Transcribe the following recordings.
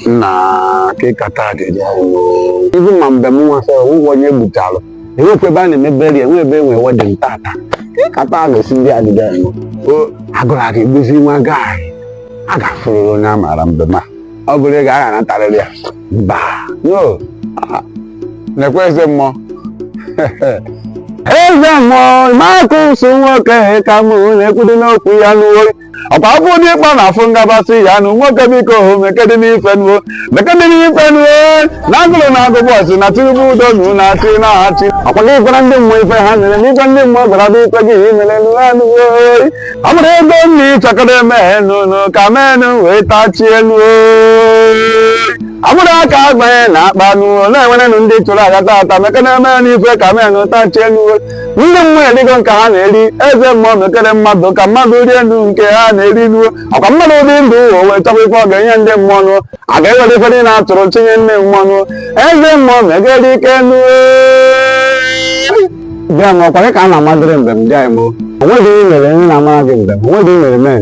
nna kekata dị ibu ma mbem nwasa ụgwọ onye gbuchara enwekwa ebe a na-eme burial enwe ebe enwe wedding tata kekata ga-esi ndị adịda eme o agụrụ aga egbuzi nwa gaị a ga-afụrịrị onye a maara mbem ma ọ bụrụ ego a ga-anatarịrị ya mba no nekwa eze mmụọ eze mmụọ ma akụ ụsụ nwoke ka mụ na-ekwudo n'okwu ya nụ oyi ọkwa afọ onye ịkpa na afọ ngabasị ya nụ nwoke biko hụ mekede n'ife nuo mekede n'ife nuo na agụrụ na-agụ boys na tinubu udo nu na-achị na-achị ọkwa gị gwara ndị mmụọ ife ha nyere n'ife ndị mmụọ gwara bụ ife gị imere nụ ha nụ oyi ọ bụrụ ego nna ịchọkọrọ eme nụ nụ ka menụ wee tachie nụ oyi ọ bụrụ aka agbanye n'akpa nụ na-enwerenụ ndị chụrụ aja tata mekede eme n'ife ka menụ tachie nụ oyi ndị mmụọ erigo nke ha na-eri eze mmụọ mekere mmadụ ka mmadụ rie nụ nke ha na-eri nuo ọkwa mmadụ dị ndụ o wee chọkwa ife ọ ga-enye ndị mmụọ nụ a ga-ewere ife niile a tụrụ chinye ndị mmụọ nụ eze mmụọ mekere ike nụ bịa m ọkwa gị ka a na-amadịrị mbem dị anyị mo onweghị ihe mere m ji na-amara gị mbem onweghị ihe mere mee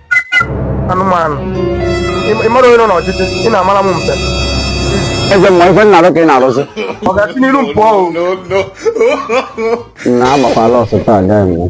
anụmanụ Ị- ị mara onye nọ n'ọchịchị ị na-amara m mbem eze mmụọ ife nna arụ ka ị na-arụzi ọ ga-esi n'iru m pụọ o na-agbakwala ọsọ taa agaghị m